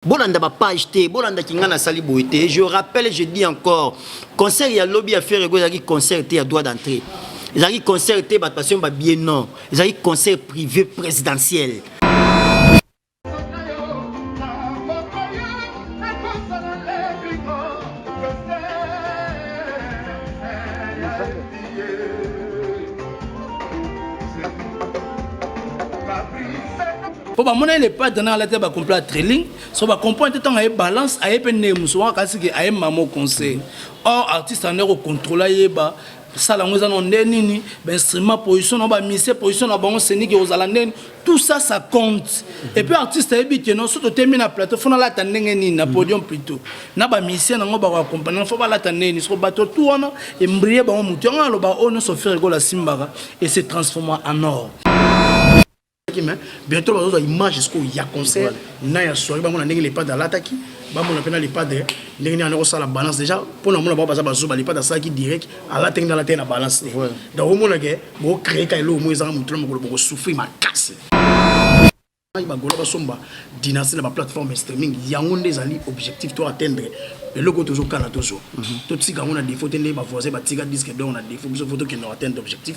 bolanda ba page te bolanda kinga na sali boye te je rappelle je dis encore concert ya lobi ya ferre ego ezalaki concert te ya droit d'entrée ezalaki concert te bato basomba bie non ezalaki concert privé présidentiel mpo bamona ye le padre na alati ba complet ya trailing so ba comprendre te ntango aye balance aye mpe ndenge mosusu wana kasi ke aye mama conseil or artiste ande kocontrole ayeba sala yango eza na nde nini bainstrument position na bamise position na bango senike kozala ndeni tout ça ça compte et puis artiste ayebi keno so totemi na plateau fo nalata ndenge nini na podium plutôt na bamise na yango bakoakompagne fo balata ndenge nini soko bato tout wana embrie bango motu yango aloba oyo nyonso fere ekola asimbaka et se transforma en or mais bientôt bazozwa image sikoyo ya concert na ya soirée bamona ndenge lepade alataki bamona mpe na lepade ndenge nini anakosala balance déjà mpo na mona bao baza bazoba lepade asalaki direct alataki nde alataki na balance te donc omona ke bocree ka eloko moko ezanga motu na mokolo bokosouffrir makasi bagola basomba dynastie na baplateforme streaming yango nde ezali objectif to atteindre eloko tozokana tozwa mhm. totika yango na défaut te nde bavoisin batika disque dor na défaut biso fo tokenda atteindre objectif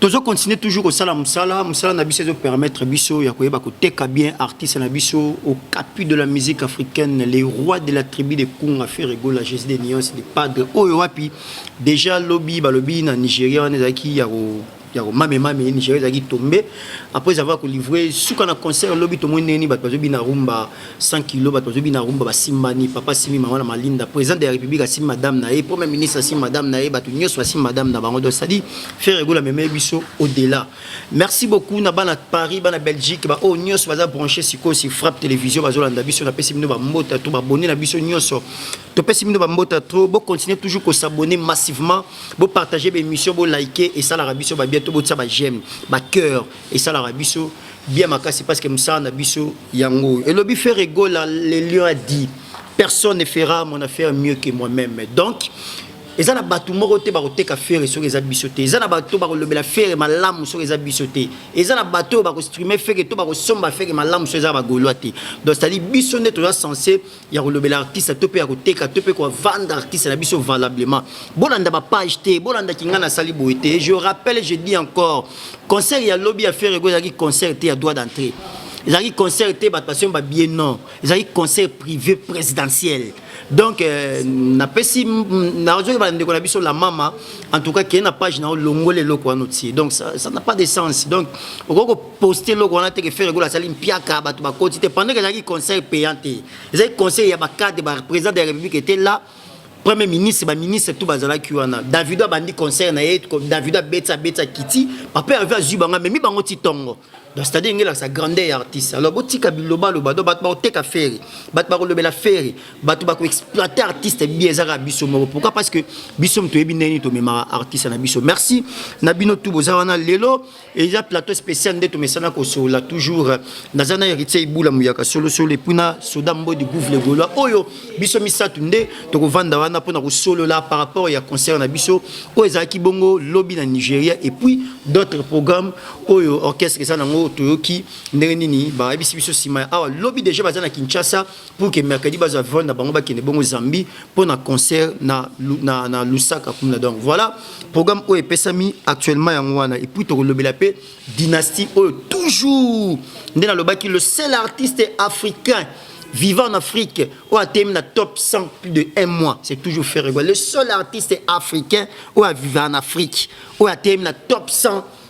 tozo continuer toujours kosala mosala mosala na biso ezo permettre biso ya koyeba koteka bien artiste na biso au capu de la musique africaine les rois de la tribu de kunga ferregola jésus de nuance de padre oyo wapi déjà lobi balobi na nigeria wana ezalaki ya ko ya komame mame ye nigeria ezalaki tombe après avoir kolivre suka na concert lobi tomoni ndenge nini bato bazobina rumba 100 kilo bato bazobina rumba basimbani papa asimbi mama na malinda président de la république asimbi madame na ye premier ministre asimbi madame na ye bato nyonso basimbi madame na bango donc cestadi frère egola memeye biso au delà merci beaucoup na bana paris bana belgique baoyo oh, nyonso baza branché sikoyo si frappe télévision bazolanda biso napesi bino bambota to babone na biso nyonso topesi bino bambota to bocontinue toujours kosabone massivement bo partager ba émission bo liker esalaka biso ba bien to botisa ba j'aime ba cœur esalaka biso bien makasi parce que mosala na biso yango oyo elobi ferre gola le lion a dit personne ne fera mon affaire mieux que moi-même donc eza na bato moko te bakoteka fere soki eza biso te eza na bato bakolobela fere malamu soki eza biso te eza na bato oyo bakostrime feke to bakosomba feke malamu soki eza bagolois te donc cetadi biso nde toza sense ya kolobela artiste to mpe ya koteka to mpe kovanda artiste na biso valablement bolanda bapage te bolanda kinga nasali boye te je rappelle je dis encore concert ya lobi ya ferrego ezalaki concert te ya droit d'entrée ezalaki concert te bato basomba bie non ezalaki concert privé présidentiel donc euh, napesi nazoyeba na ndeko na biso la mama en tout cas keye na page na yo longola eloko wana otie donc ça n'a pas de sens donc okoki poste eloko wana te ke ferre gola asali mpiaka bato bakoti te pendant ke ezalaki conseil payant te ezalaki conseil ya bacadre ba président de la république était là premier ministre baministre tout bazalaki wana davido abandi concert na ye davido abetisa abetisa kiti papa herve azwi bango amemi bango ti tongo donc c'est-à-dire ngela sa grandeur ya artiste alors botika bilobaloba donc bato bakoteka fere bato bakolobela fere bato bakoexploite artiste bi ezaka biso moko pourquoi parce que biso moto toyebi ndenge nini tomemaka artiste na biso merci na bino tu boza wana lelo eza plateau spécial nde tomesana kosolola toujours naza na héritier ibula muyaka solosolo epui na soda mbodi gouve le golois oyo biso misato nde tokovanda wana mpona kosolola par rapport ya concert na biso oyo ezalaki bongo lobi na nigeria epuis d'autres programmes oyo orchestre eza nango toyoki ndenge nini bayebisi biso nsima ya awa lobi déjà baza na kinshasa pour que mercredi bazwa vol na bango bakende bongo Zambie mpo na concert na, na, na Lusaka kuna. Donc voilà programme oyo epesami actuellement yango wana, et puis tokolobela mpe dynastie oyo toujours nde nalobaki le seul artiste africain vivant en Afrique, ou a terminé la top 100 plus de un mois, c'est toujours Ferregois. Le seul artiste africain ou a vivant en Afrique, ou a terminé la top 100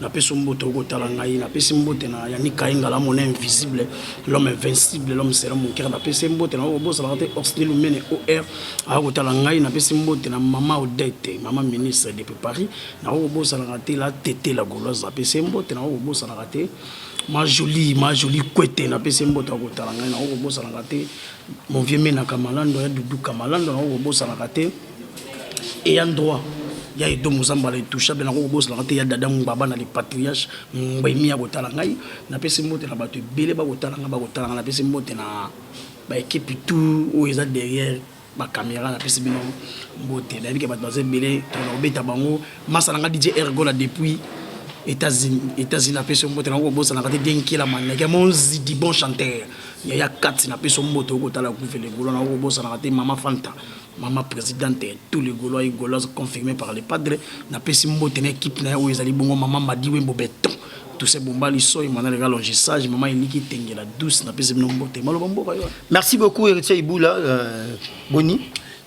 napesi mbote okotala ngai napesi mbote na yannick kaingala mon invisible l'homme invincible l'homme sera mon cœur napesi mbote na obosanaka te orsnil omene or aya kotala ngai napesi mbote na mama odete mama ministre depuis paris nakoki kobosanaka te la tete la goloise napesi mbote nakoki kobosanaka te ma jolie ma jolie kwete napesi mbote akotala ngai nakoki kobosanaka te mon vieux menaka malando ya duduka malando nakoki kobosanaka te ayant droit ya edomo za mbala etouchable nango kobosanaka te ya dada ngbaba na le patriarche ngbemi akotala ngai napesi mbote na bato ebele bakotala ngai bakotala ngai napesi mbote na baekipe tout oyo eza derrière bacaméra napesi bino mbote nayebike bato baza ebele tona kobeta bango masa na ngai dj ergola depuis états-unis napesi yo mbote nango kobosanaka te denkela maneke monzidi bon chanteur yaya kati napesi yo mbote okotala kuvele golo nango kobosanaka te mama fanta Maman presidente tout le golois et goloise confirme par le padre na pesi mbote na equipe na oyo ezali bongo maman Madi Wembo Beton Toussaint Bombali Soy Mwana Lega Longe Sage maman Eliki Tengela douce na pesi bino mbote maloba mboka yo Merci beaucoup Héritier Iboula euh, Boni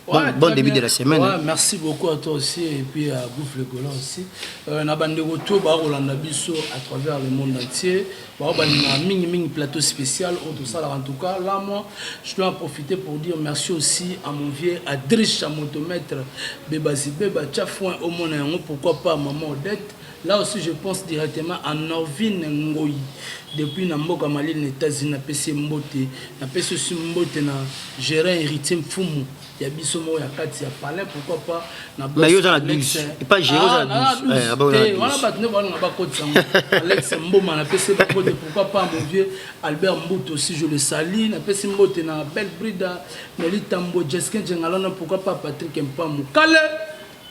Bon, ouais, bon début bien. de la semaine. Ouais, merci beaucoup à toi aussi et puis à Bouffe le Golan aussi. Euh, na bande retour ba Rolanda Bisso à travers le monde entier. Bao balinga mingi mingi plateau spécial oyo tosalaka en tout cas là moi je dois en profiter pour dire merci aussi à mon vieux Adricha Motomètre Bebazibeba Tchafoin omona yango pourquoi pas maman Odette Là aussi, je pense directement à Norvine Ngoyi, depuis Namboka Mali, les États-Unis, na Pessi Mbote, na Pessi Mbote, na Gérard Héritier Mfumu, ya biso moko ya kati ya palin pourquoi pas na boss mais yo za na 12 pas gérer za na 12 eh aba na 12 wana batu ne bana ba kotisa ngo Alex Mboma na pese ba kote pourquoi pas mon vieux Albert Mbuto si je le salue na pese mbote na belle brida Nelly Tambo Jeskin Jengalana pourquoi pas Patrick Mpamu kale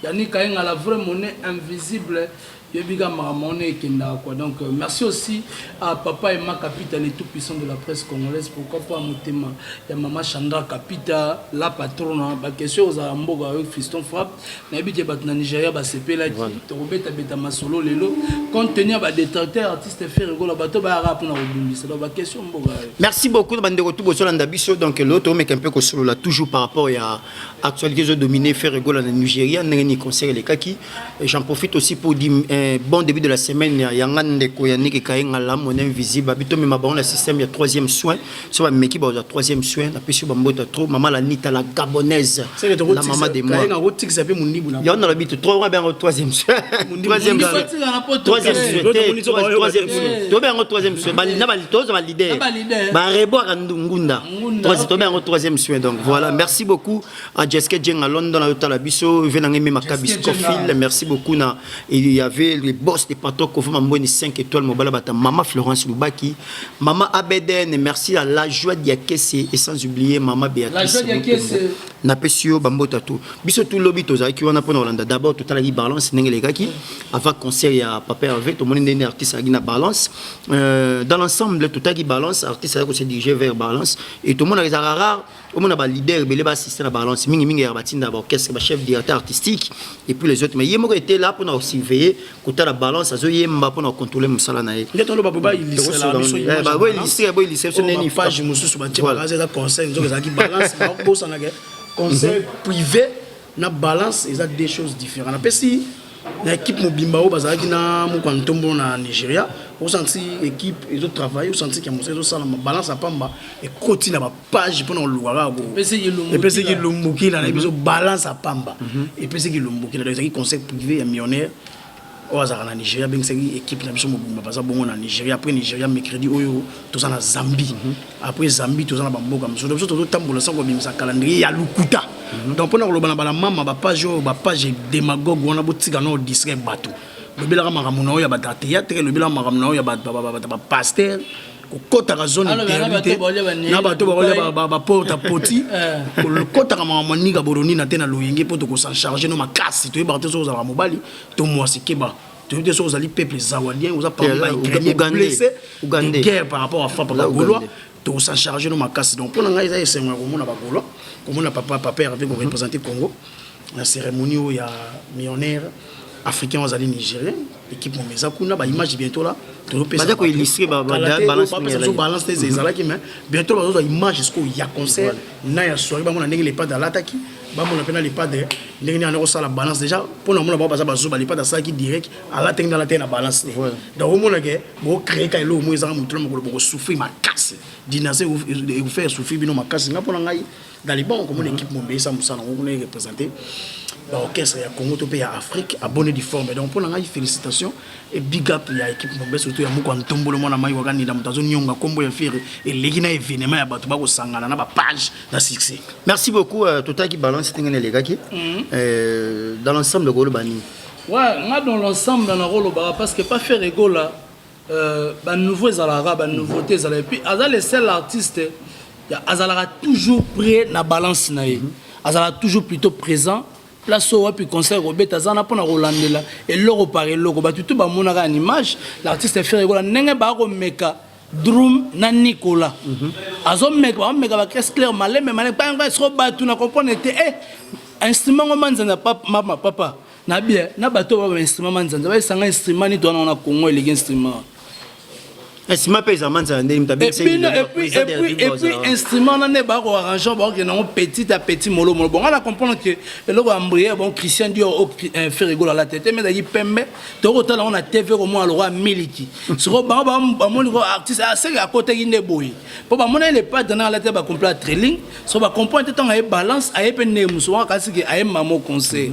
Yannick Ayengala vrai monnaie invisible Yoyebi kaka makambo wana ekendaka quoi donc merci aussi à papa Emma Kapita le tout puissant de la presse congolaise pourquoi pas motema ya maman Chandra Kapita la patrona ba question ozala mboka avec Fiston Frappe nayebi que bato na Nigeria basepelaki voilà. tokobeta beta masolo lelo compte tenu ya ba détracteur artiste Ferre Gola bato bayaka mpona kobundisa donc ba question mboka merci beaucoup na bandeko tout bosolanda biso donc lelo tomeka mpe kosolola toujours par rapport ya Actualité ezo dominer Ferre Gola na Nigeria ndenge ni concert elekaki. J'en profite aussi pour dire eh, bon début de la semaine ya nga ndeko ya Niki Kayenga la mon invisible abito mais ma na système ya troisième soin. So ba meki ba troisième soin na pesi ba mbota trop maman la nita la gabonaise. La maman de moi. Kayenga rotix ape mundibu na. Ya on a l'habitude de trois bien troisième soin. Troisième soin. Troisième soin. Troisième soin. To bien troisième soin. Ba na ba tozo ba leader. Ba rebo ka ndungunda. tomi yango troisième soin donc voilà merci beaucoup à Jessica Djenga London ayotala biso ve nangai mema kabis kofil merci beaucoup na il y avait les boss des patrons kofi mamboni 5 étoiles mobala bata maman Florence Lubaki maman Abeden merci à la joie diakese et sans oublier maman Béatrice napesi yo bambote ya tout biso tout lobi tozalaki wana mpona kolanda d'abord totalaki balance ndenge elekaki avant concert ya papa herve tomoni ndenge artiste alaki na balance Euh, dans l'ensemble totaki balance artiste ayaki kose dirige vers balance et tomonaka ezalaka rare omona baleader ebele baassiste na balance mingimingi yaka batindaka baorchestre bachef directeur artistique et puis les autres mais ye moko ete la mpona kosurveille kotala balance azoyemba mpona kocontrole mosala na ye conseil privé na balance eza deux choses différentes napesi na équipe mobimba oyo bazalaki na mokwa ntombo na nigeria osanti équipe ezotravaille osanti ke mosala ezosalama balance ya pamba ekoti na bapage mpona koluka kaka epesi kilumbukila na biso balance ya pamba epesi kilumbukila donc ezalaki conseil privé ya millionnaire oyo azalaka na nigeria abengisaki ekipe na biso mobimba baza bongo na nigeria après nigeria mercredi oyo toza na zambie mhm. après zambie toza na bamboka mosusu biso tozotambola sango babimisa calendrier ya lokuta mhm. donc mpona koloba na bana mama bapage oyo bapage demagogue wana botika nao distrai bato lobelaka makambo na oyo ya bata théâtre lobelaka makambo na oyo ya bapaster kokotaka zone interdite na bato bakolia baporta poti kokotaka makambo maninga boronina te na loyenge mpo tokosan charge no makasi toyebaka te soki ozalaka mobali to mwasi keba toyebi te soki ozali peuple zawadien oza parmi ba ukrainien blessé de guerre par rapport à frappe na gaulois tokosan charge no makasi donc mpo na ngai eza esengo ya komona bagaulois komona papa papa herve korepresente congo na cérémonie oyo ya millionnaire africain azali nigérien équipe moma eza kuna baimage bientôt la tozopesabalance te ezalaki mais bientôt bazozwa image sikoyo ya concert na ya soirée bamona ndenge lepade alataki bamona mpe na lepade ndenge nini ana kosala balance déjà mpo na mona bao baza bazoba lepade asalaki direct alataki nde alataki na balance te donc omonake bocreeka eloko mo ezanga motu na mokolo bokosouffrir makasi dinase ekofere souffrir bino makasi nga mpo na ngai na liban okomona équipe mobimba eza mosala yango kuna erepresente baorchestre ya congo to mpe ya afrique abonne diforme donc mpo na ngai félicitation e big up ya équipe mobimba surtout ya moko ya ntombolo mwana mai wakanila moto azonionga nkombo ya fere eleki na événement ya bato bakosangana na bapage na succès merci beaucoup euh, totaki balance ndenge na elekaki mhm. euh, dans l'ensemble koloba nini wa nga dans l'ensemble nakolobaka parce que pas faire egola Euh, ba nouveau ezalaka kaka ba nouveauté ezalaka epuis aza le seul artiste azalaka toujours près na balance na ye azalaka toujours plutôt présent place oyo wapi concert kobeta aza na mpona kolandela eloko par eloko bato tu bamonaka ya image l'artiste fere ekola ndenge baa komeka drum na nicolas mhm. azomeka baomeka baclasse claire malembe malembe soko bato na comprendre te e eh, instrument ngo manzana mama papa na bien na bato oyo baba instrument manzanza bayesanga instrument nito wana wana congo eleki instrument wana instrument mpe eza manzanza ndenge mutaepuis instrument wana nde bako arrangeur bakokende yango petit a petit molo molo bonga na comprendre ke eloko ya mbriere bon christian dior o euh, ferigolo ala tete me ezalaki pembe tokotala yango na tv komona lokola miliki soko bango bamoni ko artiste aseke ah, akotaki nde boye mpo bamonaki le padre na ala te bacompla trilling so bacomprendre te ntango aye balance aye mpe ndenge mosu wana kasi ke aye mamo conseil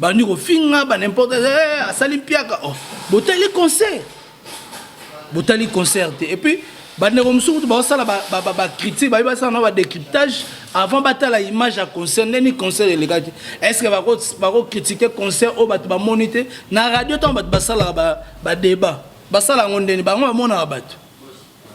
bandi kofinga ba n'importe eh, asali mpiaka oh. botali concert botali concert te et puis bandeko mosusu kutu baosala bacritique bayebi basala na badécryptage avant batala image ya concert ndeni concert elekaki est ce que bakocritique concert oyo bato bamoni te na radio ntango bato basalaka badébat basala yango ndeni bango bamonaka bato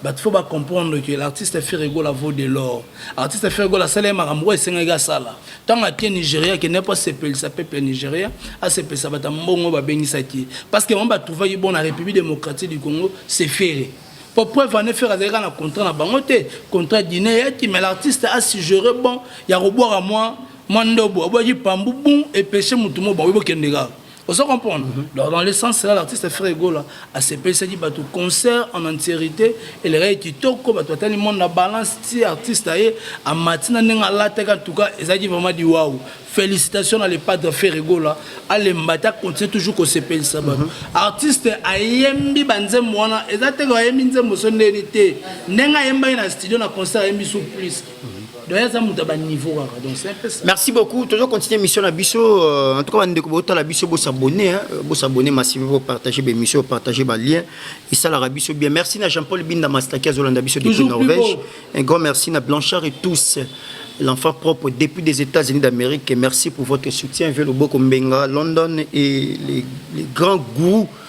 Bato faut ba comprendre que l'artiste Ferre Gola vaut de l'or. Artiste Ferre Gola asala ye makambo oyo esengaki asala. Ntango atie Nigeria ke ne po asepelisa peuple ya Nigeria, asepelisa bato ya mbongo oyo babengisaki ye. Parce que bango ba trouvaki bon na Republique democratique du Congo c'est Ferre. Po preuve en est Ferre azalaki kaka na contrat na bango te, contrat Guinee eyaki mais l'artiste a suggere bon ya kobwaka mwa mwa ndobo, abwaki pambu boum epeche moto moko bakoki bokende kaka. ozo comprendre mm -hmm. donc dans le sens là l'artiste frère egola asepelisaki bato concert en entiérité elekaki kitoko bato batali monde na balance ti artiste aye amati na ndenge alataki en tout cas ezalaki vraiment diwau félicitations na le padre frère egola alemba te acontinue toujours kosepelisa bato mm -hmm. artiste ayembi banzembo wana eza teke ayembi nzembo so ndeni te ndenge ayembaki na studio na concert ayembi sous plus merci beaucoup tozo continuer mission na biso euh, en tout cas bandeko botala biso bosabonne hein. euh, bosabonne massive bopartage baémission bopartage balien esalaka biso bien merci na jean paul binda mastaki azolanda biso depuis norvège un grand merci na blanchard et tous l'enfant propre depuis des États-Unis d'Amérique. Merci pour votre soutien. Vieux Loboko Mbenga, London et les, les grands goûts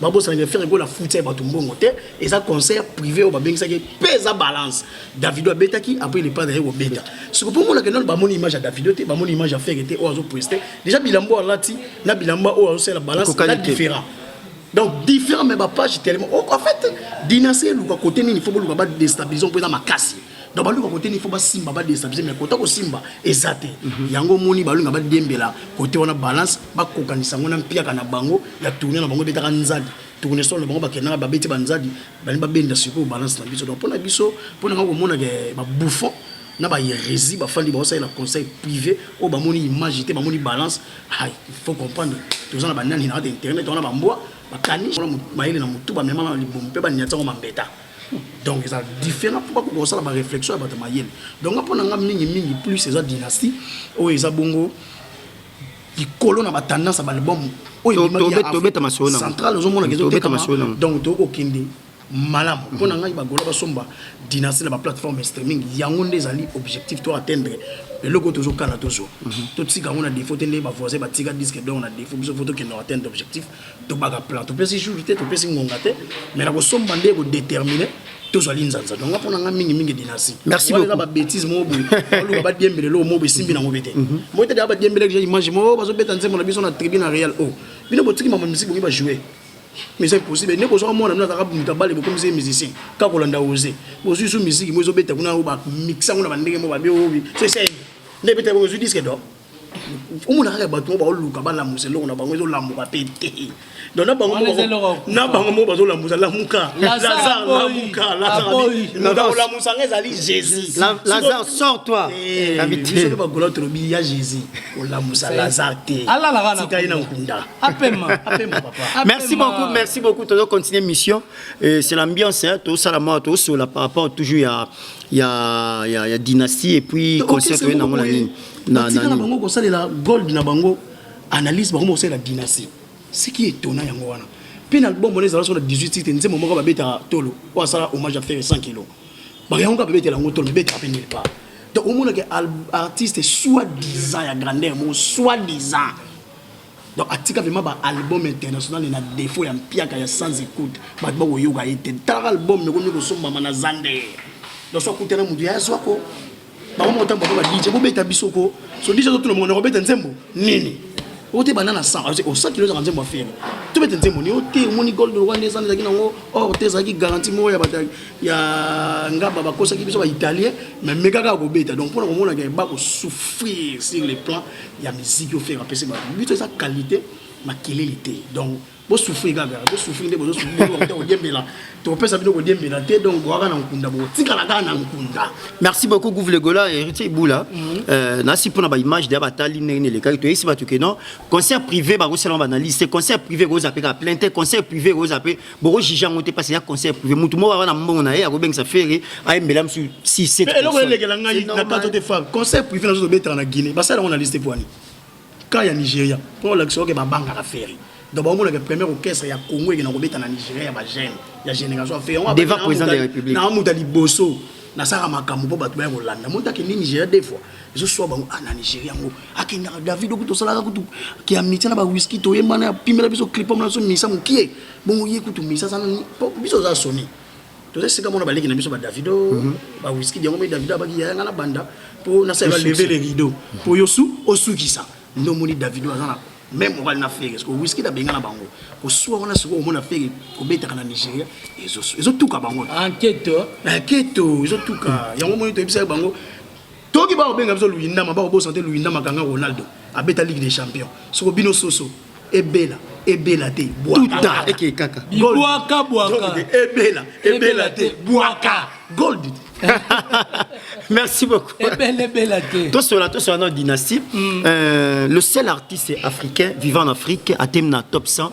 babosana ke ferre gola afuti ya bato mbongo te eza concert privé oyo babengisaki mpe eza balance davido abetaki après il epa naye kobeta siko mpo monaka nano bamoni image ya davido te bamoni image ya ferre te oyo azopreste déjà bilamba oyo alati na bilamba oyo azosalela balance na différent donc différent mais bapage tellement oh, en fait dinase eluka kote nini fo boluka badestabilisation mpo eza makasi donc baluka kote nifo basimba badestabilise mais kota kosimba eza te mhm. yango omoni baluka badembela kote wana balance bakokanisa yango na mpiaka na bango ya tourne na bango ebetaka nzadi tournesol na bango bakendaka babeti banzadi bani babenda sikoyo balance na biso donc mpo na biso mpo na nga komonaka eh, babouffon na baheresi bafandi baosalela conseil privé oyo bamoni image te bamoni balance il faut comprendre toza na banani na kati internet wana bambwa bakani mayele na motu bamema na libumu mpe baniatiango mambeta donc eza différent mpo bakoka kosala ba réflexion ya bato ya mayele donc nga mpo na nga mingi mingi plus eza dynastie oyo eza bongo likolo na batendance ya baalbum oyo central ozomonaka ezotekama donc tokoki kokende malamu mpo na ngai bagola basomba dynastie na baplateforme streaming yango nde ezali objectif to atteindre eloko tozokana tozwa mhm. totika yango na défaut te nde bavoisin batika disque donc na défaut biso fo tokende atteindre objectif tobaka plan topesi jour te topesi ngonga te mais na kosomba nde ekodetermine tozwali nzanza donga mpo na ngai mingimingi dinasi merci beaucoup babétise moko boye oluka badiembele loo moko esimbi nango be te mhm. moi tete abadiembele deja image moko oh, bazobeta nzembo na biso na tribune ya real o oh. bino botiki mama misiki bongi bajoue mais c'est impossible ndeko ozwaka mwana mino azaka moto abale bokomisi ye musicien kaka kolanda ose bozwi so miziki mo ezobeta kuna mixa yango na bandenge mo babi oyobi so esei nde ebeta ozwi diske dor omona kaka bato moko baoluka balamusa eloko na bango ezolamuka mpe te donc na bango na bango moko bazolamusa lamuka lazar lamuka lazarolamusa nga ezali jésus lazar sort toi eh, bisoki bagola tolobi ya jésus olamusa lazar te tika ye na nkunda merci beaucoup merci beaucoup tozo continuer mission euh, c'est l'ambiance tozosala mwa tozosola par rapport toujours ya ya ya dynastie et puis concert oye nango na nini na na bango ko salela gold na bango analyse bango ko salela dynastie ce qui est étonnant yango wana puis na album wana ezala sur 18 titres nzembo moko ba beta tolo wa sala hommage à faire 100 kg ba yango ka beta lango tolo beta pe nulle part donc au monde que artiste soit disant ya grandeur mo soit disant donc atika vraiment ba album international na défaut ya mpiaka ya sans écoute ba ba ko yoka ete tala album mais ko ko somba mana zande donc soit kutana mudia ya soit ko bango moko ntango bakoba dije bobeta biso ko so dije azotuna mongo nakobeta nzembo nini ote banda na sang osakili ozaka nzembo ya fere tobeta nzembo ni ote omoni gold wana ezana ezalaki nango or te ezalaki garanti moko ya bato ya ngaba bakosaki biso baitalien mais mekaka kobeta donc mpona komonaka eba kosouffrir sur le plan ya miziki ofere apesi bato biso eza qualité makelele te donc bosufri kaka bosufri nde bozosufrite kodiembela tokopesa bino kodiembela te donc boyaka na nkunda botikala kaka na nkunda merci beaucoup gouve legola héritier ibula mhm. euh, nasi mpona baimage deya batali ndenge nelekaki toyesi bato ke non concert privé bakosalama baanalyse te concert privé ekoza mpe kaka plein te concert privé ekoza mpe bokojuge yango te mpasi ya concert privé motu moko aa na mbongo na ye akobengisa fere ayembela mosusu 6 eloko elekela ngai na kato te fa concert privé nazo tobetaka na guinée basala yango na liste poani Cas ya Nigeria, po olakisa yo ke ba bangaka Ferre. Donc ba monaka premier orchestre ya Congo ekena kobeta na Nigeria ya ba jeunes ya generation ya Ferre. Devant président de la République. Na muta liboso nasaka makambo mpo bato baya kolanda moto akende nigeria de fois ezoswa bango a ah, na nigeria yango akendaka david okutu osalaka kutu kiamitia na bawiski toyembana apimela biso clipom na biso misa mokie bongo ye kutu misa aza nani biso oza soni toza sika mona baleki na biso badavido mhm. bawiski yango mai davido abaki yaya nga na banda mpo nasala leve le rideau mpo yo su osukisa nde omoni davido aza na meme mobali na fere siko wiski nabenga na bango kosuwa wana sikoyo omona fere kobetaka na nigeria ezotuka bango enketo enketo ezotuka yango moni toyebisaki bango Toki ba obenga biso Luindama ba obosa te Luindama ganga Ronaldo abeta Ligue des Champions. Soko bino soso ebela ebela te bwaka eke kaka bwaka bwaka ebela ebela te bwaka gold merci beaucoup ebela ebela te to sola to sola na dynastie mm. euh, le seul artiste africain vivant en Afrique atteint na top 100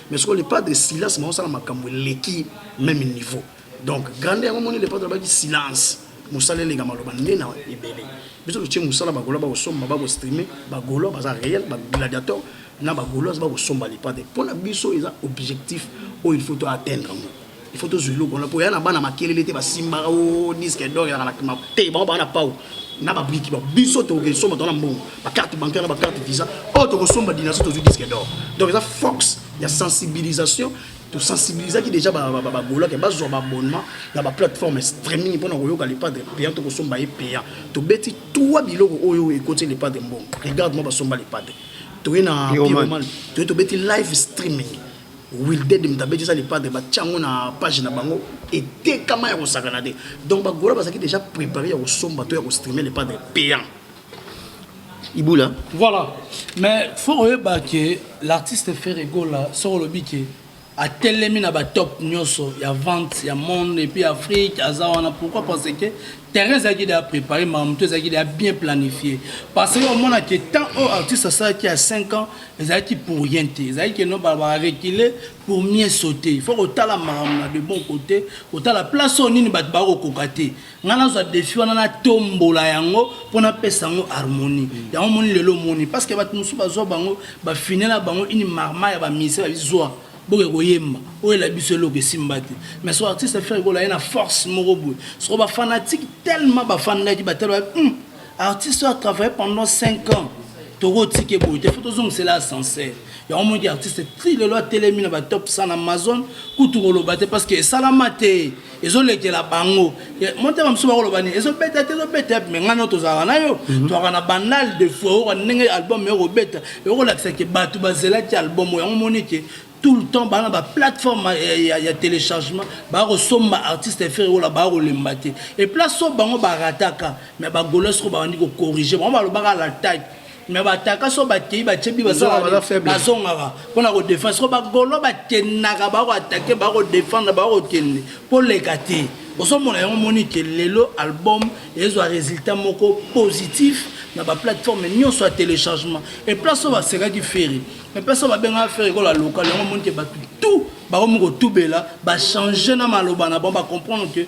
mais sikoyo le padre silence maosala makambo eleki meme niveau donc grande yango moni le padre abaki silence mosala eleka maloba nde na ebele biso totie mosala bagola bakosomba bakostrime bagola baza réel bagladiateur na bagola bakosomba le padre mpo na biso eza objectif oyo il faut to atteindre yango il faut tozwa eloko wana mpo ya na bana makelele te basimbaka o oh, disque dor elaka na kima te bango baa na pau na babriki ba biso tokesomba tona mbongo bacarte bancaire na bacarte visa oyo oh, tokosomba dinaso tozwi disque dor donc eza force ya sensibilisation tosensibilisaki déjà bagolake bazwa baabonnement na baplateforme streaming mpona koyoka lepadre payant tokosomba ye payant tobeti tua biloko oyo ekoti lepadre mbongo regarde mwa basomba lepadre toye na toye tobeti live streaming Wilded Mutabeti eza le padre batia yango na page na bango etekama ya kosakana te donc bagola bazalaki déjà préparé ya kosomba to ya kostreame le padre payant ibula voilà mais faut oyeba ke l'artiste ferre gola soko olobi ke atelemi na batop nyonso ya vente ya monde epuis afrique aza wana pourquoi parce que terrain ezalaki deya prépare makambo moto ezalaki deya bien planifie parce que omona ke temps oyo artiste asalaki ya 5 ans ezalaki pour rien te ezalaki ke no barecule pour mieux sauter il faut kotala makambo na de bon côté kotala place oyo nini bato bakokoka te ngai nazwa defi wana natombola yango mpo napesa yango harmonie yango omoni lelo omoni parce que bato mosusu bazwa bango bafine na bango ini marma ya bamise babizwa Boke koyemba oyela biso eloko esimba te mais so artiste ferre gola ye na force moko boye soko ba fanatique tellement bafandaki batala ba hum artiste oyo atravaille pendant 5 ans tokotika ye boye te fo tozongisela ascenseur yango omoniki artiste ti lelo atelemi na batop 100 na amazon kutu koloba te parce que esalama te ezolekela bango motema mosusu bakoloba nini ezobeta te ezobeta yapi me ngai no tozalaka na yo mhm. tozalaka na banal de fois oyoka ndenge album yo kobeta ekolakisa ke bato bazelaki album oyo yango moni ke tout le temps bana baplateforme ya, ya téléchargement baya kosomba artiste fere ola baya kolemba te eplace oyo bango barataka me bagolo soko babandi kocorrige bango balobaka la type mais bataka so bakei batie bi bazongaka mpona kodefendre soko bagolo bakendaka bakoatake bakodefendre bakokende koleka te ozomona yango omoni ke lelo album ezwa résultat moko positif na baplateforme nyonso ya téléchargement e place oyo basekaki feri e place oyo babengaka feri kola lokal yango omoni ke bato tout bakomi kotubela bachange na maloba na bango bacomprendre ke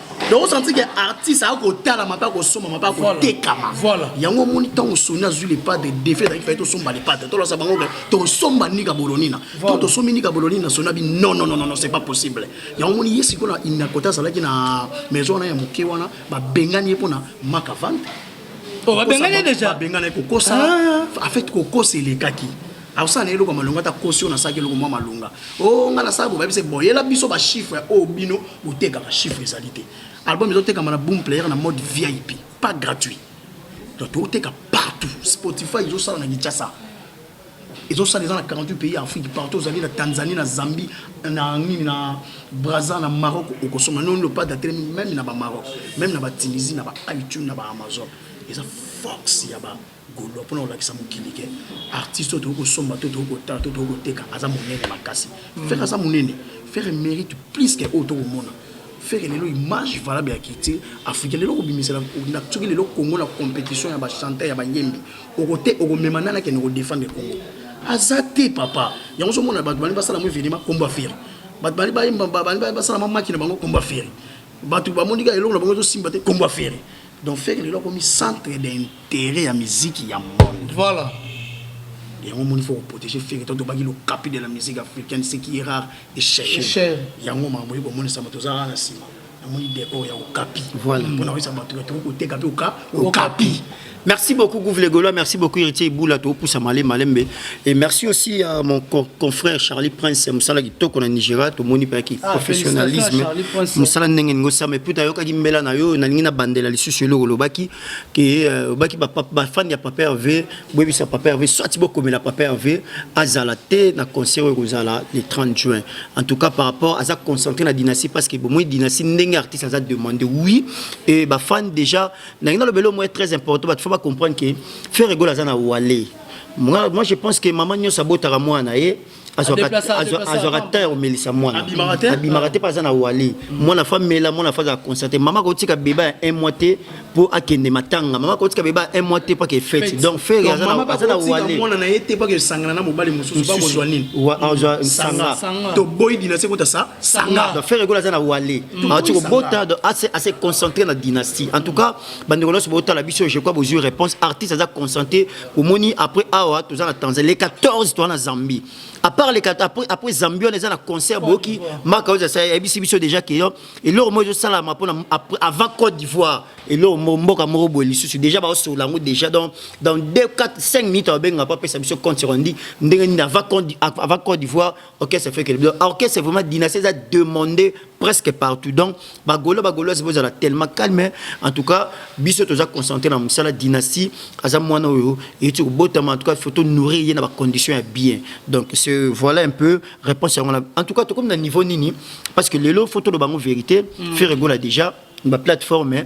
donc osanti ke artiste akoki kotalama mpe akosomama mpe akotekama yango omoni ntango soni azwi lepade defi ezalaki fai tosomba lepade tolasa bango ke tosomba nika bolonina to tosombi nika bolonina soni abi non non non c'est pas possible yango omoni ye sikoyo na inakota azalaki na maison wana ya moke wana babengani ye mpo na makavante babengani deja babengani kokosa ah. en fait kokosa elekaki akosala na eloko malonga ata kosi oyo nasalaki eloko mwa malonga o oh, ngai nasala bobayebi se boyela biso bachiffre oyo oh, bino botekaka chiffre ezali te album ezotekama na boom player na mode vip pas gratuit donc tokoteka partout spotify ezosala na kinshasa ezosala eza na 48 pays ya afrique partout ozali na tanzanie na zambie na nini na braza na maroc okosoma noni lopade atelemi meme na bamaroc meme na batunisie na baitune na baamazon eza force ya ba Golois pona kolakisa mokili ke artiste oyo tokoki kosomba to tokoki kotala to tokoki koteka aza monene makasi mm. ferre aza monene ferre mérite plus ke oyo tokomona ferre lelo image valable ya culture africain lelo kobimisela soki lelo congo na compétition ya bachanteur ya bayembi okote okomema nani akende kodefendre congo aza te papa yango ozomona bato balingi basala mo evenema komba ferre bato balingi bayemba balingi basala mamaki na bango komba ferre bato bamoni kaka eloko na bango ezosimba te komba ferre donc ferre lelo akomi centre tere ya miziki ya monde voilà yango omoni fo koprotege fere to tobaki lokapi de la musique africaine ce qui est rare et cher yango makambo oyi komonisama toza kaka na nsima namoni decor ya okapi voilà mpona koyesa bato ya tokoki koteka mpe oka okapi Merci beaucoup Gouve Golois, merci beaucoup Héritier Iboula Tokusa Malé Malembe et merci aussi à mon confrère Charlie Prince Moussala Kitoko na Nigeria to moni pa ki ah, professionnalisme Moussala ndenge ngo ça mais puta yoka ki mbela na yo na ningi na bandela lisusu eloko lobaki ke euh, obaki bafani ya papa herve boyebisa papa herve soit bokomela papa herve azala te na concert oyo ekozala le 30 juin en tout cas par rapport aza concentré na dynastie parce que bomoi dynastie ndenge artiste aza demandé oui et bafani déjà nangi nalobela omoi très important bato fo bacomprendre ke ferre egol aza na wale moi je pense que mama nyonso abotaka mwana ye eh? azwaka temps ya komelisa mwana abimaka te mpe aza na wale mwana fa mela mwana fa azala constate mama akotika beba ya un mois te mpo akende matanga mama akotika beba ya un mois te mpaka efete donc fere aza na walemwana na ye te mpaka esangana na mobali mosusu bakozwa nini azwa sanga toboyi dinastie kota sa sanga donc fere ekola aza na wale aoti kobota donc ase concentre na dynastie en tout cas bandeko nyonso botala biso je crois bozwi réponse artiste aza concentre omoni après awa toza na tanzanie le 14 toa na zambie apart le après, après zambie wana eza na concert boyoki maka oyo asala yebisi biso déjà ke yo eloko moko ezosalama mpona avant côte d'ivoire eloko moko mboka moko boye lisusu déjà baosolola yango déjà donc dans 2 4 5 minutes ababenga po apesa biso compte sekondi ndenge nini avant côte d'ivoire orchestre fekele biso orchestre vraiment dynastie eza demandé presque partout donc bagolo bagoloise bozala tellement calme en tout cas biso toza concentré na mosala dynastie aza mwana oyo eyuti kobotama en tout cas faut tonourrir ye na bacondition ya bien donc ce voilà un peu réponse yango na en tout cas tokomi na niveau nini parce que lelo faut toloba yango vérité mm. feregola déjà na baplateforme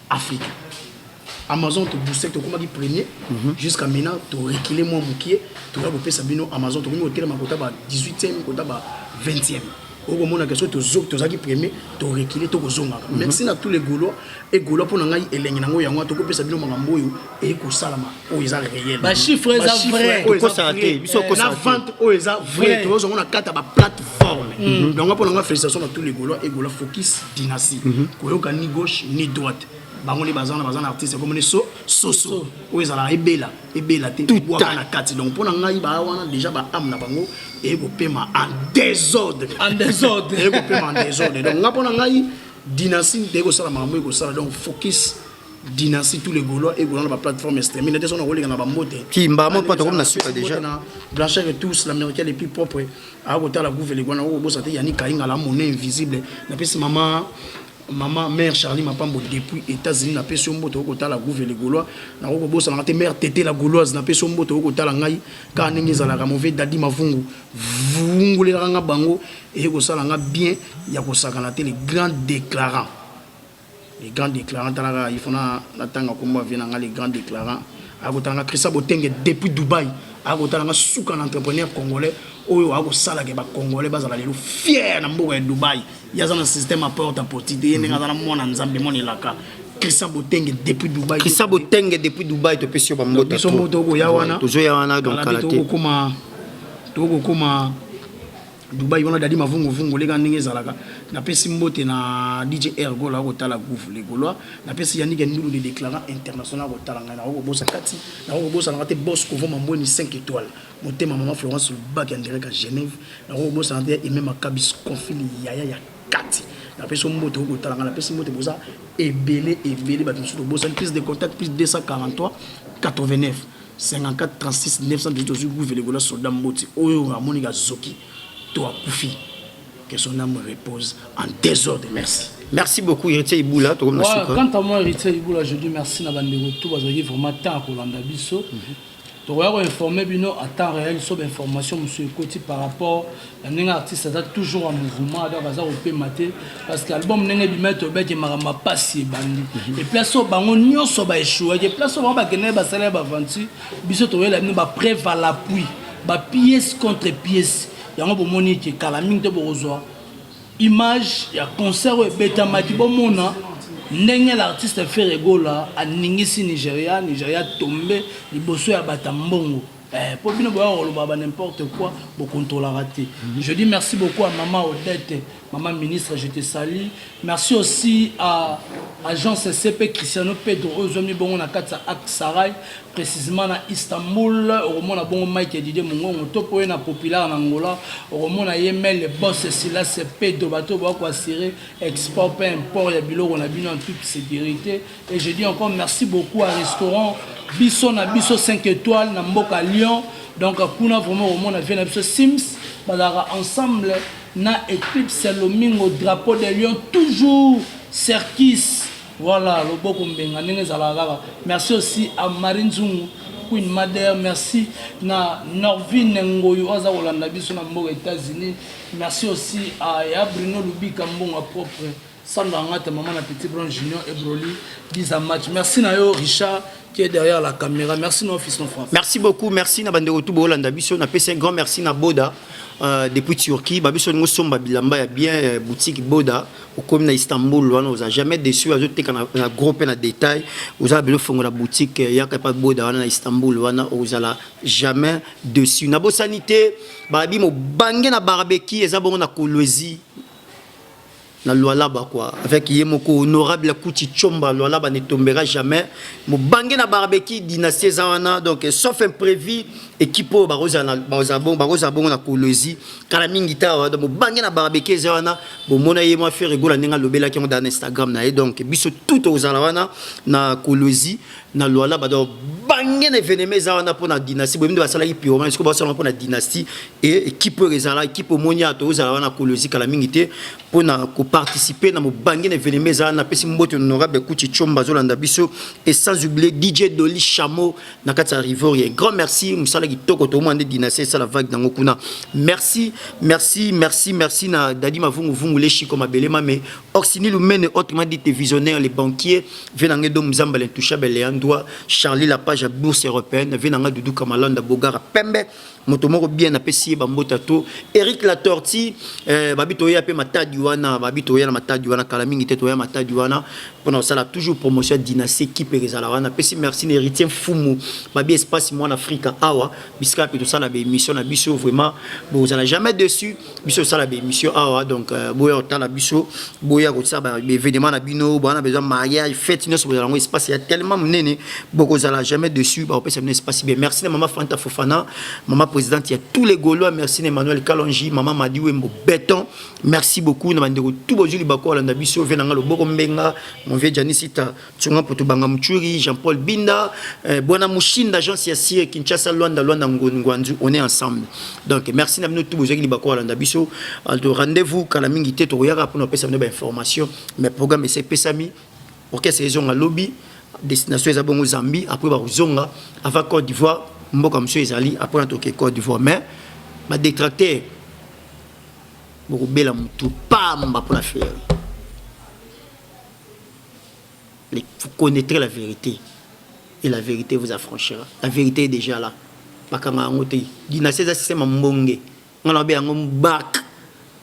Africa. Amazon to booster tokomaki premier mm -hmm. jusqu'à maintenant to reculer mwa mokie toya kopesa bino Amazon tokomi kotelema kota ba 18e kota ba 20e okomonaka soki tozalaki premier torekile tokozongaka mhm. merci na tous les gaulois e gaulois mpo na ngai elengi na yango yango wana tokopesa bino makambo oyo ekosalama oyo eza réel ba chiffre eza vrai tokosana te biso okosana na vente oyo eza vrai tozo mona kata ba plateforme mm. donc mpo na nga félicitation na tous les golois et golois focus dynastie mm-hmm. koyoka ni gauche ni droite bango nde baza na baza na artiste ekomoni so soso oyo ezalaka ebela ebela te bwaka na kati donc mpo na ngai baa wana déjà ba ame na bango eye kopema en désordre en désordre eye kopema en désordre donc nga mpo na ngai dynastie nde ekosala makambo ekosala donc focus dynastie tous les gaulois et gaulois na ba plateforme ya streaming nate sona koleka na ba mbote kimba mo pata comme na suka déjà na blanchard et tous l'américain les plus propres a kota la gouve les gwana obosa te yani kainga la monnaie invisible na pesi mama mama mère charlie mapambo depuis états-unis na pesi mbote okota la gouve les gaulois na ko bosa na te mère tete la gauloise na pesi mbote okota la ngai ka ndenge ezalaka mauvais dadi mavungu vungulelaka nga bango eye kosala nga bien ya kosakana te les grands déclarants Le grand declarant tala kaka il faut na na tanga kombo ya vie na nga le grand declarant akotala nga Christian Botenge depuis Dubaï akotala nga suka na entrepreneur congolais oyo akosala ke ba congolais bazala lelo fier na mboka ya Dubaï yaza na système ya porte à porte te ye ndenge aza na mwana nzambe mwana elaka Christian Botenge depuis Dubaï Christian Botenge depuis Dubaï to pesi yo ba mbota biso mboto okoya wana tozoya wana donc kala te tokokoma tokokoma Dubai wana dadi mavungu vungu leka ndenge ezalaka napesi mbote na DJ Air Gola akotala gouv le Gaulois napesi Yannick Ndulu de déclarant international akotala ngai nako kobosa kati nako kobosa na te boss kovo mambweni 5 étoiles motema maman Florence Lubaki andireka Genève nako kobosa na te Aimé Makabis confili yaya ya kati napesi mbote okotala ngai napesi mbote boza ebele ebele bato mosusu tobosani prise de contact plus 243 89 54 36 918 ozwi guve legola soldat mboti oyo amoni kazoki to akufi que son âme repose en désordre merci merci beaucoup héritier ibula tokomi na suka quant à moi héritier ibula je dis merci na bandeko tout bazalaki vraiment temps ya kolanda biso mm -hmm. tokoya koinforme bino à temps réel so bainformation mosusu ekoti par rapport na ndenge artiste aza toujours en mouvement donc aza kopema te parce que album ndenge ebima ete obeke makambo apasi ebandi mhm. eplace oyo bango nyonso baechouaki eplace oyo bango bakendaki basala ya baventure biso toyela bino bapreuve à l'appui bapiece contre piece yango bomoni ete kala mingi te bokozwa image ya concert oyo ebetamaki bomona ndenge l'artiste ferre gola aningisi nigeria nigeria tombe liboso ya bata mbongo Eh, po bino boya koloba ba n'importe quoi bo contrôlera te mhm. je dis merci beaucoup à maman Odette maman ministre je te salue merci aussi à agence CP Cristiano Pedro oyo zwami bongo na kati ya Aksaray précisément na Istanbul okomona bongo Mike Didier Mongongo to poye na populaire na Angola okomona ye mele boss Silas Pedro bato boya ko assurer export pe import ya biloko na bino en toute sécurité Et je dis encore merci beaucoup à restaurant biso na biso 5 étoiles na mboka Lyon donc kuna vraiment omona vie na biso Sims bazalaka ensemble na Eclipse Lomingo drapeau de Lyon toujours Serkis voilà loboko mbenga ndenge ezalaka kaka merci aussi à Marie Nzungu queen mother merci na norvine ngoyi oyo aza kolanda biso na mboka états-unis merci aussi ya bruno lubika mbongo ya propre Sandra Ngata, maman na Petit Brown Junior et Broly, Biza Match. Merci na yo Richard qui est derrière la caméra. Merci na office no France. Merci beaucoup, merci na bande retour bolanda biso na pesa un grand merci na Boda. Euh, depuis Turquie, ba biso ngo somba bilamba ya bien euh, boutique Boda okomi na Istanbul wana oza jamais déçu azo teka na, na gros pe na détail oza bilo fongo na boutique euh, yaka pa Boda wana na Istanbul wana ozala jamais déçu. Na bosanité ba bi mo bangé na barbecue eza bongo na Kolwezi na Lualaba quoi avec ye moko honorable Kuti Chomba Lualaba ne tombera jamais mobange na barbecue dynastie eza wana donc sauf imprévu équipe oyo bakozala bakozala bongo na Kolwezi kala mingi tawa donc mobange na barbecue eza wana bomona ye mwa Ferre Gola ndenge alobelaki yango na Instagram na ye donc biso tout tokozala wana na Kolwezi na lualaba donc bange na evenema eza wana mpona dynastie boyebi nde basalaki pyromane sikoyo basalama mpona dynastie e ekipe oyo ezala ekipe omoni ya tozala wana kolo ezikala mingi te mpona koparticipe na mobange na evenema eza wana napesi mbote honorable kuchi chomba azolanda biso e sans oublie dj doli chameau na kati ya rivorien grand merci mosala kitoko toomona nde dynastie esala vague nango kuna merci merci merci merci na dadi mavunguvungu leshiko mabele mame Orsini Lumene, autrement dit visionnaire, le banquier, Venanga Dom Zamba, l'intouchable, Leandroit, Charlie Lapage, à bourse européenne, Venanga Doudou Kamalanda, Bogara, Pembe, Motomoro bien na pesi bambota to, Eric La Tortue, euh, babi toya pe matadi wana, babi toya na matadi wana, kala mingi te toya matadi wana, pona osala toujours promotion dynastie qui pe rezala wana, pesi merci héritier Fumu, babi espace moi en Afrique awa, biska pe to sala ba émission na biso vraiment, bo zala jamais dessus. biso osala bémission awa donc euh, boya otala biso boya kotia baévénement na bino bana besoin mariage fête nyonso bozala yango espace ya tellement monene bokozala jamais dessus bakopesa bino espace bien merci na mama fanta fofana mama présidente ya tous les gaulois merci na emmanuel kalonji mama madi wembo béton merci beaucoup na bandeko tout bozwi libako alanda biso vie na nga loboko mbenga mon vieux janisita Tsunga Putu Banga Mchuri, Jean-Paul Binda, euh, Bwana Mushinda, Jean Siasie, Kinshasa, Luanda, Luanda, Ngwanzu, on est ensemble. Donc merci na bino tout bozaki libako Luanda biso. Aldo rendez-vous kala mingi te tokoyaka pona pesa bino ba information, mais programme ese pesami. Orchestre ezonga lobby, destination eza bongo Zambie, après ba zonga avant Côte d'Ivoire, mboka mso ezali après na toke Côte d'Ivoire mais ba détracter bokobela mutu pamba pona faire Vous connaîtrez la vérité et la vérité vous affranchira. La vérité est déjà là. Bakanga yango te. Dynastie eza système ya mbonge. Nga na be yango mbak.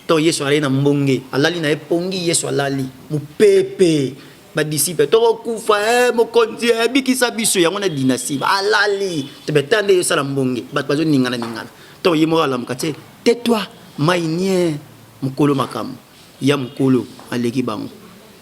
To Yesu alali na mbonge. Alali na epongi Yesu alali. Mupepe. Ba disciples to kufa eh mokonzi eh bikisa biso yango na dynastie. Alali. Te betande yo sala mbonge. Bat bazo ningana ningana. To yemo alamuka te. Tais-toi. Mainie. Mukolo makamu. Ya mukolo aleki bango.